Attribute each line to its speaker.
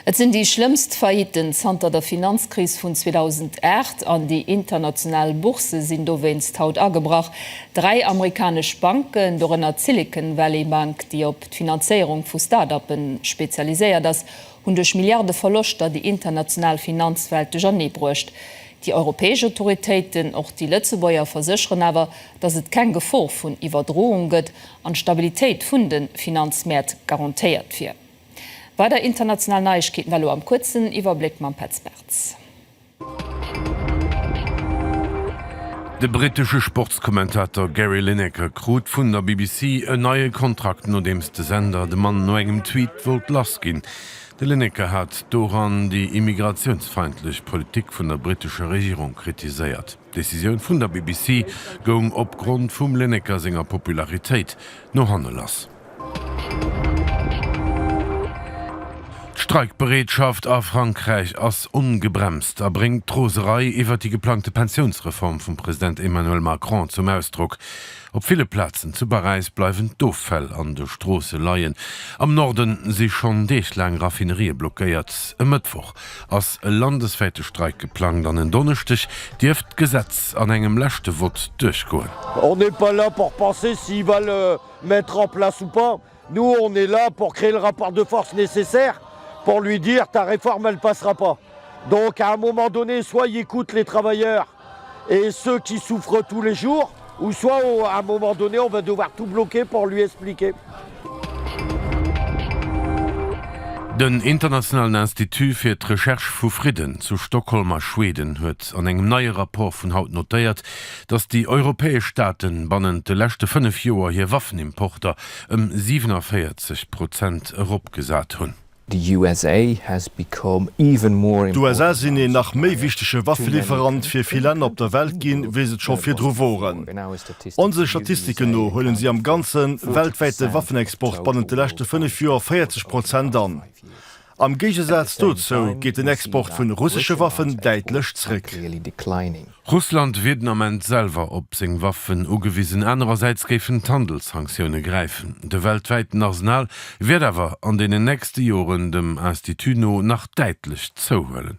Speaker 1: Et sinn déi schlëmmst Failliten zanter der Finanzkris vun 2008 an déi international Boursë sinn dowéinst haut agebrach. Dräi amerikanesch Banken, dorënner d'Silicon Valley Bank, déi op d'Finanzéierung vu Start-uppe spezialiséiert ass, hunn duerch Milliarde Verloschter déi international Finanzwelt duerchernee bruecht. Déi europäesch Autoritéiten, och déi Lëtzebuerger, versécheren awer, datt et keng Gefor vun Iwwerdroung gëtt an d'Stabilitéit vun de Finanzmäert garantéiert wier. Weider international Neiegkeeten elo am kuerzen Iwwerbléck mam Petz Bartz.
Speaker 2: De brittesche Sportskommentator Gary Lineker krut vun der BBC en neie Kontrakt, nodeems de Sender de Mann no engem Tweet wollt lass ginn. De Lineker hat doran déi immigratiounsfeindlech Politik vun der brittescher Regierung kritiséiert. D'Decisioun vun der BBC goung op Grond vum Lineker senger Popularitéit no hanne lass. D'Streikbereetschaft a Frankräich ass ongebremst a bréngt d'Roserei iwwer déi geplangte Pensiounsreform vum President Emmanuel Macron zum Ausdrock. Op ville Plazen zu Paräis bleiwen d'Offäll an de Stroosse leien. Am Norde si schonn Deeg laang Raffinerië blockéiert. E Mëttwoch ass e landeswäite Streik geplangt an en Donneschdeg dierft d'Gesetz an engem leschte Vott duerchgoen. On n'est pas là
Speaker 3: pour penser s'il va le mettre en place ou pas, nous on est là pour créer le rapport de force nécessaire pour lui dire ta réforme elle passera pas. Donc à un moment donné soit il écoute les travailleurs, Et ceux qui souffrent tous les jours ou soit à un moment donné on va devoir tout bloquer pour lui expliquer.
Speaker 2: Den Internationalen Institut fir d'Recherche vu Fridden zu Stockholm a Schweden huet an engem neie Rapport vun haut notéiert, datt déi europäesch Staaten bannent de leschte fënnef Joer hir Waffenimporter ëm 47 Prozent eropgesat hunn. The USA
Speaker 4: has become even more important. D'USA sinn een nach
Speaker 5: méi wichtege Waffeliwwerant fir vill Länner op der Welt ginn, wéi se et scho virdru woren. Onse Statistiken no huelen si am ganze weltwäite Waffenexport bannent de leschte fënnef Joer 40 Prozent an. Am Géigesaz dozou geet den Export vun russesche Waffen däitlech zréck.
Speaker 2: Russland wier den Ament selwer op seng Waffen ugewisen, anerersäits géifen d'Handelssanktioune gräifen. De weltwäiten Arsenal wäert awer an deenen nächste Joren dem Institut no nach däitlech zouhuelen.